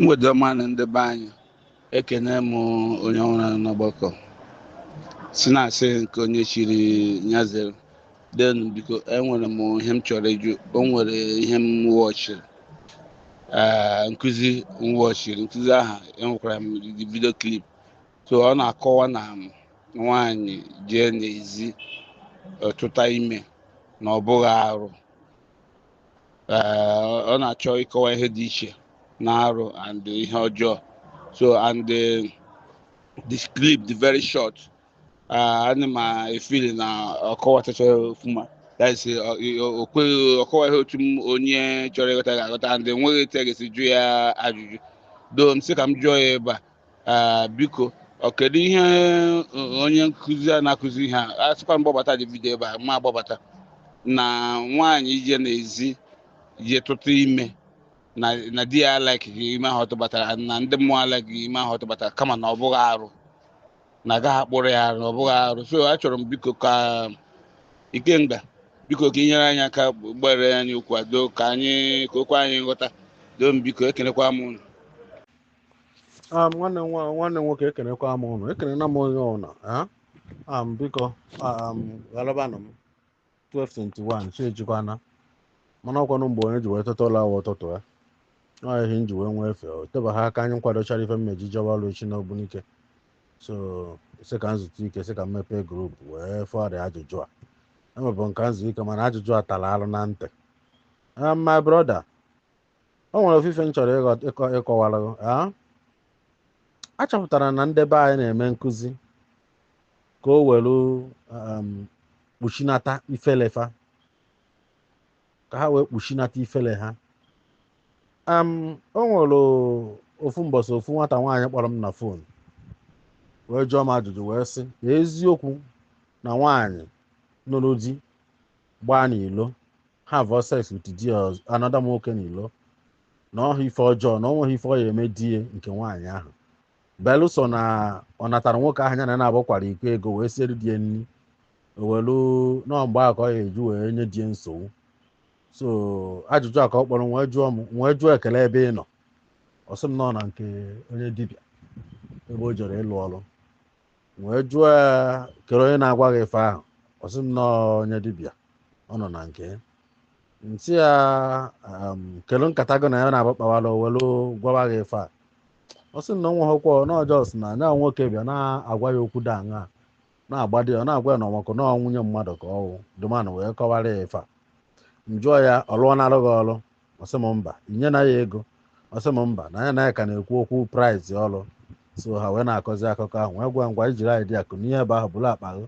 mgbede ọma nụ ndị be anyị ekene m onye ọhụrụ n'ọgbakọ si na asị nke onye chiri nya zere then biko enwere m ihe m chọrọ ịjụ o nwere ihe m watchiri ee nkụzi m watchiri nkụzi ahụ enwekwara m the video clip so ọ na-akọwa na nwaanyị jee n'ezi tụta ime na ọ bụghị arụ ọ na-achọ ịkọwa ihe dị iche na arụ and ihe ọjọọ so and the, the clip dị very short ana m efeel na ọ kọwatacha ọfụma ọ kọwa ihe otu m onye chọrọ ịghọta ga-aghọta and enweghị etu a ga-esi jụ ya ajụjụ doo m sị ka m jụọ ya ebe a Ee, biko ọ kedu ihe eh, onye nkụzi a na-akụzi ihe a a sịkwa m gbabata video ebe a m agbabata na nwaanyị ije n'ezi je tụta ime na na di ya alikeghị ime ahụ ọ tụbatara na ndị mmụọ alikeghị ime ahụ ọ tụbatara kama na ọ bụghị arụ na a gaghị akpụrụ ya arụ na ọ bụghị arụ so achọrọ m biko ka ikenga biko ka i nyere anyị aka gbaara anyị okwu a doo ka anyị ka o kwe anyị nghọta doo m biko ekenekwa m unu nwanne m nwa- nwanne m nwoke ekenekwa m ụnụ ekenena m onye ọbụla ah? Ah, m biko ah, m ghalabanụ m 1221 chi ejikwana mana ọ kwanụ mgbe onye ji wee teta ụla wụ ụtụtụ ya ọ ihe m ji wee nwee efe o tebaghị aka anyị nkwadochara ife m ya-eji jewa ọrụ echi n'Ogbunike so sị ka m zutu ike sị ka m mepee group wee fọrịa ajụjụ a enwebụ m ka m zu ike mana ajụjụ a tara alụ na ntị Ah, my brother o nwere ofu ife m chọrọ ịghọ- ịkọ ịkọwara gị, ah. a chọpụtara na ndị be anyị na-eme nkụzi ka o were um, kpuchinata ifele fa ka ha wee kpuchinata ifele ha um, o nwere ofu mbọsị ofu nwata nwaanyị kpọrọ m na phone wee jụọ m ajụjụ wee sị "Ee, eziokwu na nwaanyị nụrụ di gbaa n'ilo have sex with di another nwoke n'ilo na ọ bụghị ife ọjọọ na ọ nweghị ife ọ ya eme di ya nke nwaanyị ahụ belụsọ na ọ natara nwoke ahụ ya na na-abụ kwara iko ego wee siere di ya nri ewelu na mgbe ahụ ka ọ ya eji wee nye di ya nsogbu so ajụjụ a ka ọ kpọrọ m wee jụọ m wee jụọ ya kele ebe ị nọ ọ sị m nọ na nke onye dibịa ebe o jere ịlụ ọrụ wee jụọ ya kere onye na-agwa gị ife ahụ ọ sị m na ọ onye dibịa ọ nọ na nke ya m sị ya um, kelu nkata gị na ya na-abụ kpawara o welu gwawa gị ife a ọ sị m na nweghịkwa na ọ just na anya nwoke bịa na-agwa ya okwu dị aṅa na-agbadi ya ọ na-agwa ya na ọ makọ na nwunye mmadụ ka ọ wụ the man ahụ wee kọwara ya ife a m jụọ ya ọlụ ọ na-alụ gị ọlụ ọ sị m mba i nyena ya ego ọ sị m mba na ya na ya ka na-ekwu okwu price ọrụ so ha wee na-akọzi akụkọ ahụ wee gwa ngwa ijiri anyị bịa kunie ebe ahụ buru akpa gị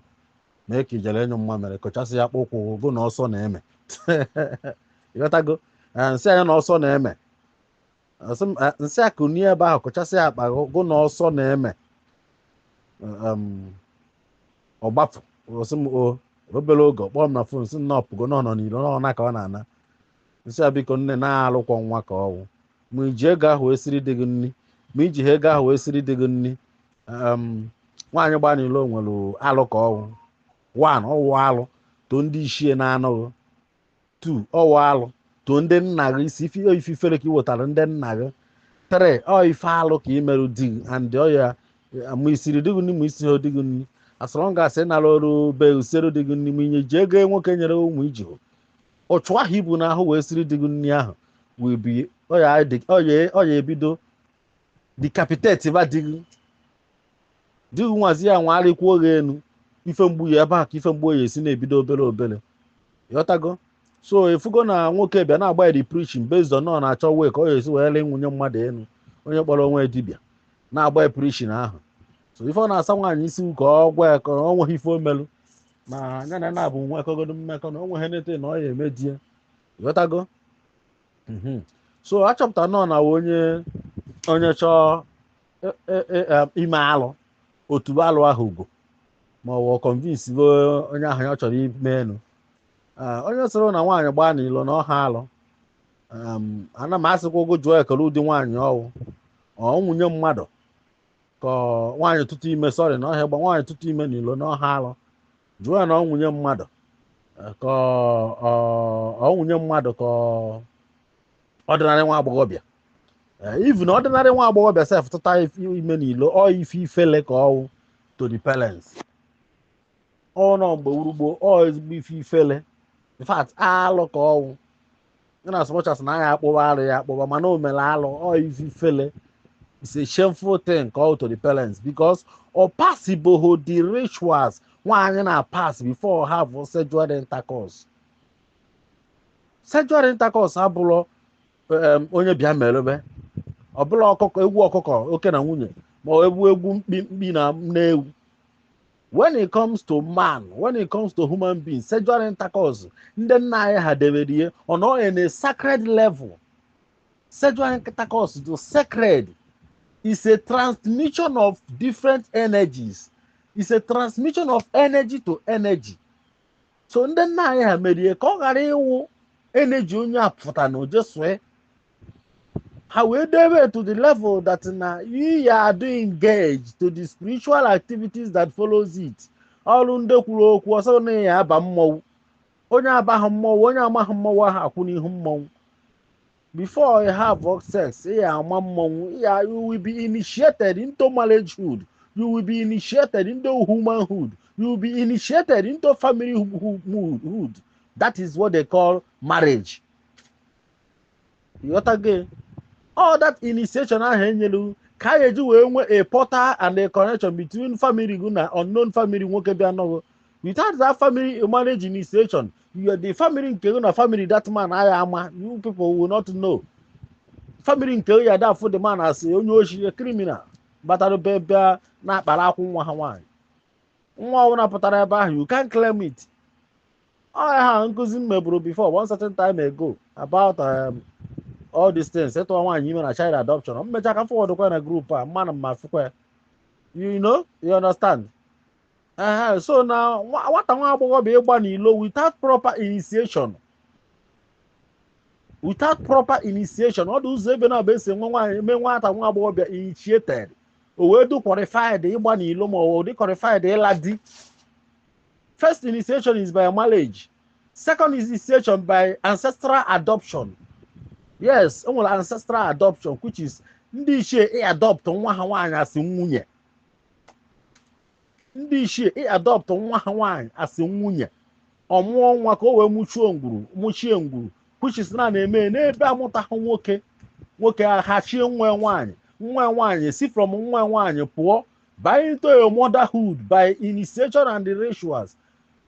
mee ka i jere anyụ mamịrị kụchasị ya akpụ ụkwụ gụ na ọsọ na-eme ị ghọtago Eh, m sị ya na ọsọ na-eme Ọ sị m, eh, m sị ya kunie ebe ahụ kụchasị ya akpa gị gụ na ọsọ na-eme um, ọ gbapụ ọ sị m o obere oge ọ kpọọ m na phone sị na ọ pụgo na ọ nọ n'iro na ọ ụnọ ka ọ na-ana m sị ya biko nne na alụkwọ nwa ka ọ wụ ma i ji ego ahụ wee siri di gị nri ma i jiha ego ahụ wee siri di gị nri em, nwaanyị gbaa n'ilo nwere alụ ka ọ wụ one ọ wụ alụ to ndị ichie na-anụghị two ọ wụ alụ to ndị nna gị isi ife ife ifere ka ị wetara ndị nna gị three ọ ife alụ ka ị merụ di gị and ọ ya ma i siri di gị nri ma i siha di gị nri as long as ị nara ọrụ bịa siri di gị nri ma ị na-eji ego nwoke nyere ma i jihụ ụchụ ahụ i bu n'ahụ wee siri di gị nri ahụ wee bi ọya ebido decapitate ba di gị di gị nwazi ya nwagharịkwa ọ ga-enwe ife mgbu ya ebe a ka ife mgbu ya esi na-ebido obere obere ị ghọtago so i fugo na nwoke bịa na-agba ya preaching based on ọ na-achọ way ka ọ ya-esi wee lịa nwunye mmadụ enu onye kpọrọ onwe dibịa na-agba ya preaching ahụ so ife ọ na-asa nwaanyị isi ka ọ gwa ya ka o nweghị ife o melụ na ya na nabụ nwekọgodu mmekọ na o nweghị nete na ọ ya-eme di ya ị ghọtago Mhm. so achọpụtanụ na onye onye chọọ e- e- e- em, ime alụ ọ tụba alụ ahụ ugo ma o wee convince onye ahụ ya chọrọ ime enu Ah, onye sịrị na nwaanyị gbaa n'ilo na ọha alụ Em, ana m asịkwa gụ jụọ kele ụdị nwaanyị ọ wụ ọ nwunye mmadụ ka ọ- nwaanyị tụtụ ime sorry na ọha gba nwaanyị tụtụ ime n'ilo na ọha alụ jụọ ya na ọ nwunye mmadụ eh, ka ọ- ọ- ọ nwunye mmadụ ka ọ- ordinary nwa agbọghọbịa even ordinary nwa agbọghọbịa sef tụta ife- ime n'ilo ọ ife ifele ka ọ wụ to the parents ọ nọ mgbe wụrụ gboo ọ ezigbo ife ifele in fact alụ ka ọ wụ inasmuch as na a ya-akpụwa alụ ya akpụwa mana o mere alụ ọ ife ifele it's a shameful thing ka ọ wụ to the parents because ọ passibeho the rituals nwaanyị na-apass before have sexual intercourse sexual intercourse abụrọ em, onye bịa merebe ọbụla ọkụkọ egwu ọkụkọ oke na nwunye ma ọ egwu egwu mkpi mkpi na nne ewu when it comes to man when it comes to human being sexual intercourse ndị nna anyị ha debere ihe ọ nọ in a sacred level sexual intercourse to sacred is a transmission of different energies is a transmission of energy to energy so ndị nna anyị ha mere ya ka ọ ghara ịwụ eneji onye a pụta na o je sue ha wee debe to the level that na ị ya-adị engaged to the spiritual activities that follows it ọrụ ndị kwuru okwu ọ sị na ị ya-aba mmọnwụ onye abaghị mmọnwụ onye amaghị mmọnwụ aha akwụ n'ihu mmọnwụ before you have sex ị ya ama mmanwụ ị ya you will be initiated into marriagehood you will be initiated into humanhood you will be initiated into family hu- hu- hu- hood that is what they call marriage you got again all that initiation ahụ enyelu ka a ga-eji wee nwee a portal and a connection between family gị na unknown family nwoke bịa nụ gụ without that family marriage initiation you are the family nke gị na family that man aya ama you people will not know family nke ya da afụ the man as onye oshi criminal batara be ebe a na-akpara akwụ nwa ha nwaanyị nwa ọbụla pụtara ebe ahụ you can't claim it ọya ha nkụzi m meburu before one certain time ago about um, all these things ịtụwa nwaanyị ime na child adoption m mechaa ka m forwardụkwa na group a mmanụ mma fụkwa you know you understand ehe so na nwa- nwata nwa agbọghọ bịa ịgba n'ilo without proper initiation without proper initiation ọ dị ụzọ ebe naabọ e si nwe nwaanyị mee nwata nwa agbọghọ bịa initiated o wee dị qualified ịgba n'ilo ma ọ dị qualified ịla di first initiation is by marriage second initiation by ancestral adoption yes enwere ancestral adoption which is ndị ichie ị adopt nwa ha nwaanyị as nwunye ndị ichie ị adopt nwa ha nwaanyị as nwunye ọ mụọ nwa ka o wee mụchuo ngwuru mụchie ngwuru which is ọ na-eme n'ebe amụtaghị nwoke nwoke ahachie nwa nwaanyị nwa nwaanyị si from nwa nwaanyị pụọ baa into a motherhood by initiation and the rituals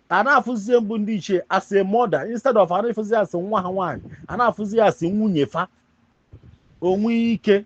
a na-afụzie mbụ ndị ichie as a mother instead of a na-afụzi e as nwa ha nwaanyị a na-afụzi e as nwunye fa o nwee ike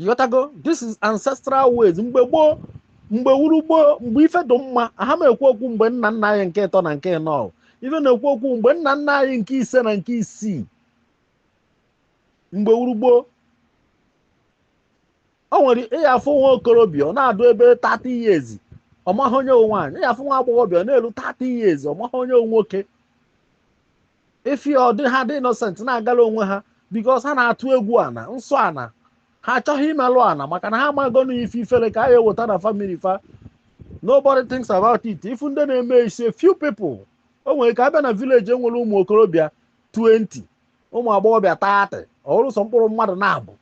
ịghọtago this is ancestral ways mgbe gboo mgbe wuru gboo mgbe ife dị mma aha m ekwu okwu mgbe nna nna anyị nke ịtọ na nke ịnọ ife m na-ekwu okwu mgbe nna nna anyị nke ise na nke isii mgbe wuru gboo o nwere ịya afụ nwa okorobịa ọ na-adụ ebe 30 years ọmaghị onye wụ nwaanyị ịya afụ nwa agbọghọbịa ọ na-eru 30 years ọmaghị onye wụ nwoke ife ọ dị ha dị innocent na-agala onwe ha because ha na-atụ egwu ana nsọ ana ha achọghị imelụ ana maka na ha amago na ife ifere ka a ya eweta na family fa nobody thinks about it ị fụ ndị na-eme is a few people o nwere ka a bịa na village enwere ụmụ okorobịa 20 ụmụ agbọghọbịa 30 ọ wụrụ sọ mkpụrụ mmadụ naabọ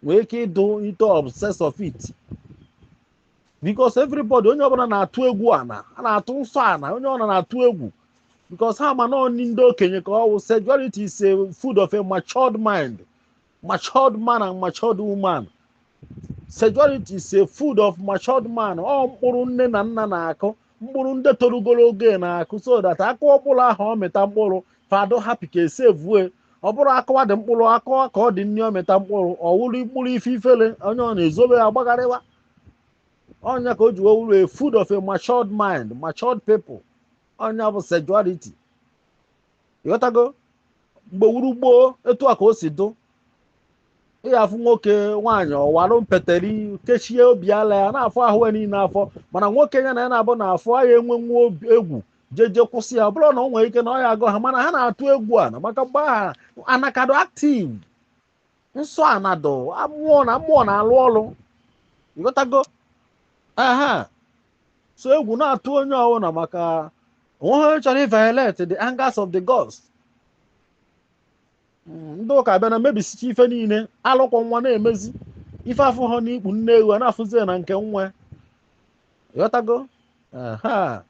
nwere ike ịdụ into obsess of it because everybody onye ọbụla na-atụ egwu ana a na-atụ nsọ ana onye ọbụla na-atụ egwu because ha ma na ọ nni ndị okenye ka ọ wụ sexuality is a food of a matured mind matured man and matured woman sexuality is a food of matured mind ọ mkpụrụ nne na nna na-akụ mkpụrụ ndị torugoro ogo na-akụ so that a kụọ mkpụrụ ahụ ọ mịta mkpụrụ fa dụ happy ka esevue ọ bụrụ akụwa dị mkpụrụ akụwa ka ọ dị nri ọ mịta mkpụrụ ọ wụrụ mkpụrụ ife ifele onye ọ na-ezobe ya gbagharịwa ọ nya ka o ji wee wụrụ a food of a matured mind matured people ọ nya bụ sexuality ịghọtago mgbe wụrụ gboo etu a ka o si dụ ị ga-afụ nwoke nwaanyị ọ wara mpeteri kechie obi ala ya na-afụ ahụ ya niile afụ mana nwoke ya na ya na-abụ na-afụ ya enwe nwa obi- egwu jeje kwụsị ya ọ bụrụ na o nwere ike na ọ ya agụ ha mana ha na-atụ egwu ana maka mgbe aha ana ka dụ active nsọ ana dụ amụọ na mmụọ na-alụ ọlụ ịghọtago aha so egwu na-atụ onye ọbụla maka onweghị onye chọrọ iviolate the angers of the gods Mm, ndị ụka abịana mebisicha ife niile alụkwa nwa na-emezi ife afụha n'ikpu nne ewu a na-afụzi ya na nke nwa ịghọtago aha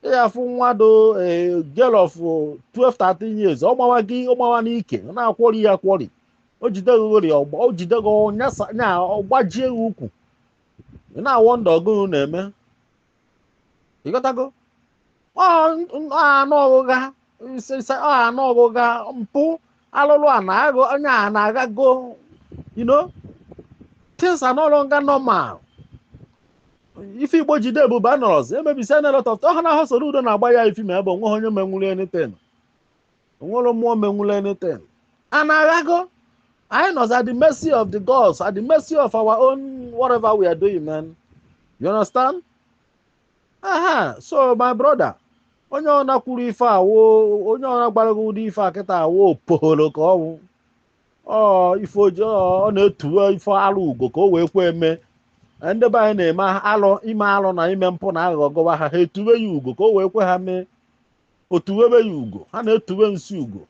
ị ga-afụ nwa dụ girl of 12 13 years ọ gbawa gị ọ gbawa n'ike ọ na-akwọri ya akwọri o jide gị ghori ọgba o jide gị nyasa nya ọgbajie gị ukwu ị na-awọ ndụ ọgụụ na-eme ịghọtago anụ ọgụgha nsịnsị ọ anụ ọgụga mpụ alụlụ ana agụ onye a na-agago you know things are no longer normal ife igbo ji dị ebube anọrọzi e mebisina lot of ọha na ahụ soro udo na-agba ya ifi na ebe onweghị onye menwuru anything onwerọ mmụọ menwuru anything ị na-aghọtago anyị nọzi at the mercy of the gods at the mercy of our own whatever we are doing man you understand aha so my brother onye ọ na-akwuru ife a wụ onye ọ na-agbara gị ụdị ife a kịta awụ opogholo ka ọ wụ ọ ife o ji ọ na-etuwe ife alụ ugo ka o wee kwe eme ndị be anyị na-eme alụ ime alụ na ime mpụ na aghụghọ gụwa ha ha etuwe ya ugo ka o wee kwe ha mee o tuwebe ya ugo ha na-etuwe nsi ugo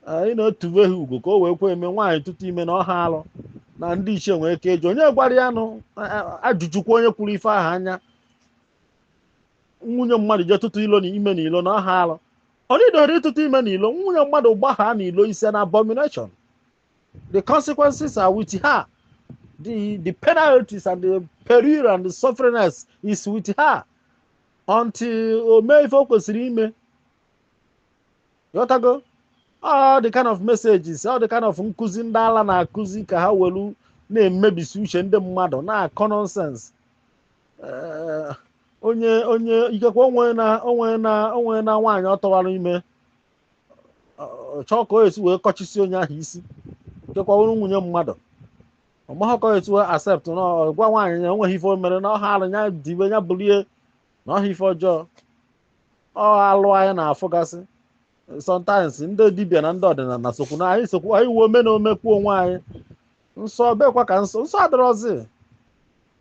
anyị na-etuwe ha ugo ka o wee kwe eme nwaanyị tụtụ ime na ọha alụ na ndị ichie nwere ike ịjụ onye gwara ya nụ ajụjụkwa onye kwuru ife ahụ na nwunye mmadụ jee tụtụ ilo na ime na ilo na ọha alụ ọ dịdọrọ ịtụtụ ime na ilo nwunye mmadụ gbaa na ilo is an abomination the consequences are with her the the penalties and the peril and the sufferingness is with her until o mee ife o kwesịrị ime ịghọtago all the kind of messages all the kind of nkụzi ndị ala na-akụzi ka ha welu na-emebisi uche ndị mmadụ na-akọ nonsense Eh, onye onye ikekwe onwe na onwe na o nwere nwaanyị ọ tụwara ime ọ chọọ ka o esi wee kọchisi onye ahụ isi ikekwe ọ wụrụ nwunye mmadụ ọmaghọkọ etu accept na ọ gwa nwaanyị na enweghị ife o mere na ọha alụ ya dibe ya bulie na ọha ife ọjọọ ọ alụ anyị na-afụgasị sometimes ndị dibịa na ndị ọdịnala sokwu na anyị sokwu anyị wuo ome na omekwu onwe anyị nsọ bekwa ka nsọ nsọ adịrọzi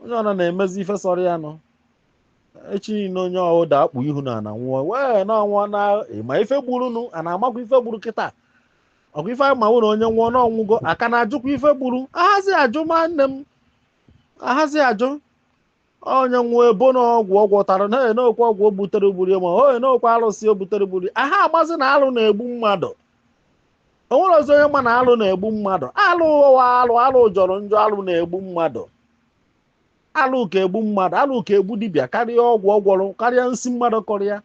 onye ọna na-emezi ife sọrọ ya nụ echi niile onye ahụ daa kpuo ihu n'ana nwụọ wee na ọ nwụọ na ịma ife gburu nụ a na-amakwa ife gburu kịta ọ kwa ife anyị ma wụ na onye nwụọ na ọ nwụgo a ka na-ajụkwa ife gburu ahazi ajụ ma nne m ahazi ajụ onye nwụọ e bo na ọgwụ ọ gwọtara na onye na-ekwu ọgwụ o butere gburu ya ma onye na-ekwu arụsị o butere gburu ya aha amazi na alụ na-egbu mmadụ o nwerọzi onye ma na alụ na-egbu mmadụ alụ ụwa alụ alụ jọrọ njọ alụ na-egbu mmadụ alụ ka egbu mmadụ alụ ka egbu dibịa karịa ọgwụ ọ gwọrọ karịa nsị mmadụ kọrọ ya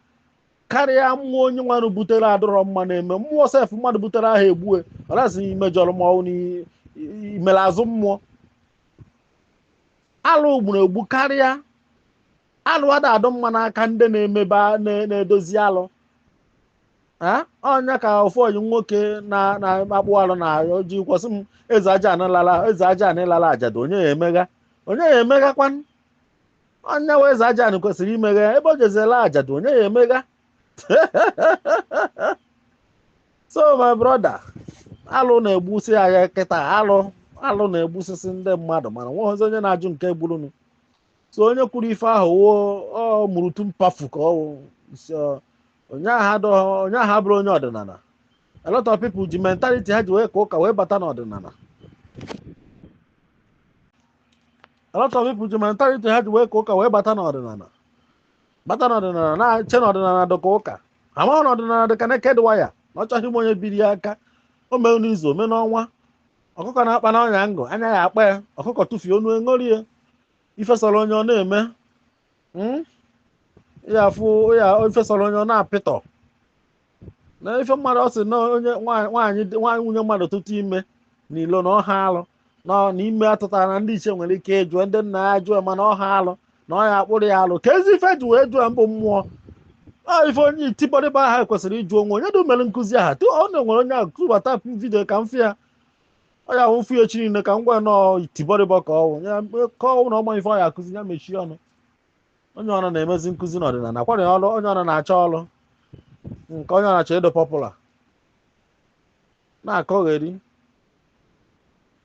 karịa mmụọ onye nwanụ butere adịrọ mma na-eme mmụọ sef mmadụ butere aha egbue unless i mejọrọ ma ọ wụ i mere azụ mmụọ alụ gburu egbu karịa alụ ada adị mma n'aka ndị na-emebe na-edozi alụ ọ ya ka ofu ọyị nwoke na-akpụ alụ na-ejikwa asị m eze aja anịlala eze aja anịlala ajadu onye ya emegha onye ya emeghakwan onye wụ eze aja nụ kwesịrị imegha ebe o jezi ịla ajadu onye ya emegha so my brother alụ na-egbusi ike kịta alụ alụ na-egbusisi ndị mmadụ mana nwerọzi onye na-ajụ nke gburunu so onye kwuru ife ahụ wụ ọ mụrụ tu mpafu ka ọ wụ so onye ahụ adọghọ- onye ahụ abụrụ onye ọdịnala a lot of people ji mentality ha ji wee ka ụka wee bata n'ọdịnala a lot of people ji mentality ha ji wee ka ụka wee bata n'ọdịnala bata n'ọdịnala na-eche na ọdịnala dị ka ụka amaghị na ọdịnala dị ka naked wire na ọ chọghị ịma onye biri ya aka o mee n'izu o mee n'ọnwa ọkụkọ na-akpa n'ọnya ngụ anya ya akpa ya ọkụkọ tụfie onu eṅorie ife sọrọ onye ọ na-eme Mm? ya afụ ya ife sọrọ onye ọ na-apịtọ na ife mmadụ ọ sị na onye nwaanyị nwaanyị dị- nwaanyị nwunye mmadụ tụtụ ime n'ilo na ọha alụ na ọ- na ime a tụtara na ndị ichie nwere ike ịjụ ndị nna ya jụọ ma na ọha alụ na ọ ya akpụrụ ya alụ kezi ife ji wee jụọ mbụ mmụọ ọ ife onye itibọrịbọ ahụ kwesịrị ịjụ onwe onye dị mere nkụzi ahụ tu ọ na-enwere onye ahụ tụbata video ka m fụ ya ọ ya awụ m fụ ya echi niile ka m gwa na ọ itibọrịbọ ka ọ wụ ya ka ọ wụ na ọ maha ife ọ ya akụzi ya mechie ọnụ onye ọna na-emezi nkụzi n'ọdịnala kwara ya ọrụ onye ọna na-achọ ọrụ nke onye na-achọ ịdị popular na-akọgheri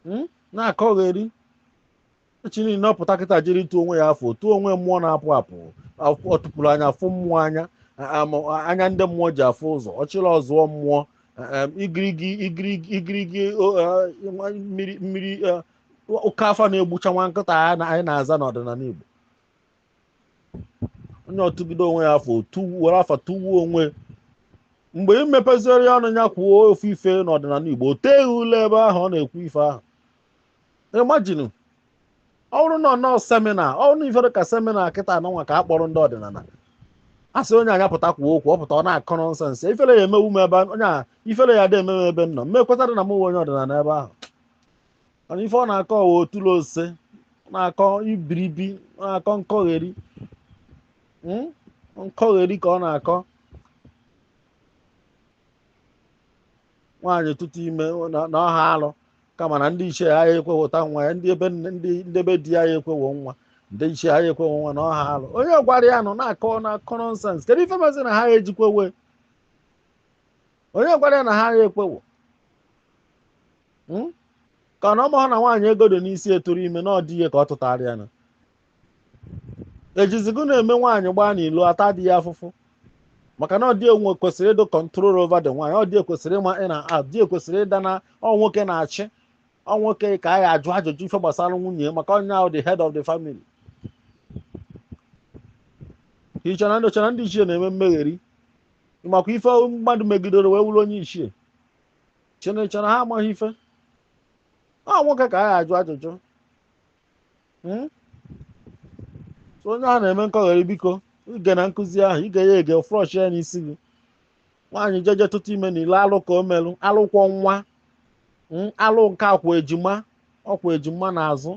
Mm? na-akọgheri echi niile ọ pụta kịta jiri tuo onwe ya afa tuo onwe mmụọ na-apụ apụ afụ- ọtụpụrụ anya afụ mmụọ anya a- ama- anya ndị mmụọ ji afụ ụzọ ọchịrị ọzụọ mmụọ em, igirigi igirigi igirigi o- eh, nwa- mmiri mmiri eh, ọka afa na-egbucha nwa nkịta a na- anyị na-aza n'ọdịnala Igbo onye o tugide onwe ya afa tuwu- were afa tuwuo onwe mgbe i mepeziere ya ọnụ ya kwuo ofu ife n'ọdịnala Igbo o teghị ule ebe ahụ ọ na-ekwu ife ahụ imagine ọ bụrụ na ọ nọ seminar ọ bụrụ na ife dị ka seminar kịta a nọ nwa ka a kpọrọ ndị ọdịnala a sị onye a nya pụta kwuo okwu ọ pụta ọ na-akọ nonsense ifere ya emewu m ebe onye a ifere ya dị eme m ebe m nọ m ma ekwetadị na m wụ onye ọdịnala ebe ahụ mana ife ọ na-akọ ọ wụ otula ose na-akọ ibiribi na-akọ nkọgheri mm? nkọgheri ka ọ na-akọ nwaanyị tụtụ ime na- na ọ họ alụ kama na ndị ichie ha ya ekwewụta nwa ya ndị ebe nne- ndị ndị be di ya ya ekwewo nwa ndị ichie ha ya ekwewo nwa na ọ họ alụ onye gwara ya nụ na-akọ na-akọ nonsense kedu ife mezi na ha ya eji kwewe onye gwara ya na ha ya ekwewo Hmm? ka na ọ mahụ na nwaanyị ego dị n'isi atụrụ ime na ọ di ya ka ọ tụtaara ya nụ e jizi gịnị eme nwaanyị gbaa n'ilo a ta di ya afụfụ maka na ọ di ya kwesịrị ịdụ control over the nwaanyị ọ di ya kwesịrị ịma in na out di ya kwesịrị ịda na ọ nwoke na-achị ọ nwoke ka a ya ajụ ajụjụ ife gbasara nwunye maka ọ nya wụ the head of the family i che na ndị ọcha na ndị ichie na-eme mmegheri makwa ife mmadụ megidere wee wụrụ onye ichie chineke na ha amaghị ife ọ nwoke ka a ya ajụ ajụjụ Hmm? So onye ahụ na-eme nkọgheri biko i gee na nkuzi ahụ i gee ya ege flush ya n'isi gị nwaanyị jeje tụtụ ime n'ilo alụ ka o melụ alụ kwọ nwa Hmm? alụ nke a kwọ ejima ọ kwọ ejima n'azụ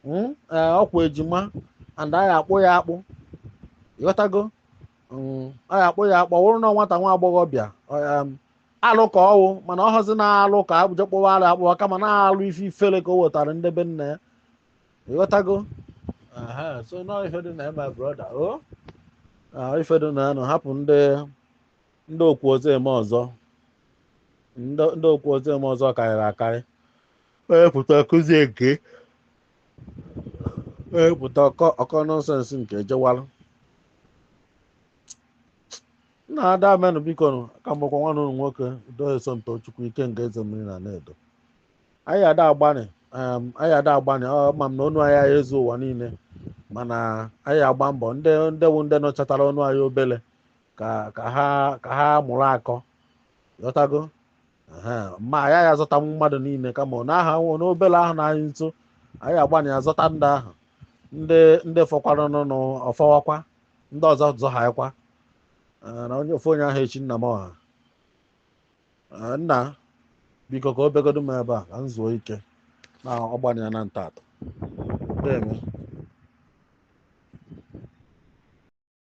Hmm? Ee, ọ kwọ ejima and a ya akpụ ya akpụ ị ghọtago Mm, a ya akpụ ya akpụ ọ bụrụ na nwata nwa agbọghọbịa ọ, em, alụ ka ọ wụ mana ọ họzi na alụ ka a ja akpụwa alụ akpụwa kama na alụ ife ifere ka o wetara ndị be nna ya ị ghọtago aha so na ọ ife dị na ya my brother o Ah, ife dị na ya nụ hapụ ndị ndị o kwuo ọzọ e mee ọzọ ndị ndị o kwuo ọzọ e mee ọzọ karịrị akarị onye pụta kụzie nke onye pụta ọ kọọ ọ kọọ nonsense nke jewalụ nna deemenụ biko nụ ka m gwakwa nwanne unu nwoke De Somtochukwu ike nke eze mmiri na na-edo anyị ada agbanị em, anyị ada agbanị a ma m na onu anyị ayị ezu ụwa niile mana anyị agba mbọ ndị ndị wụ ndị nọchatara ọnụ anyị obele ka ka ha ka ha mụrụ akọ ghọtago Ehe, ma anyị agha azọtanwu mmadụ niile kama ọ na-aha nwụ n'obele ahụ nọ anyị nso anyị agbanị azọta ndị ahụ ndị ndị fọkwaranụ ọ fọwakwa ndị ọzọ zọ ha kwa na onye ofu onye aha echi nna m ọha Eh, nna biko ka o begodu m ebe a ka m zuo ike na ọgbanye ya na ntatụ na-eme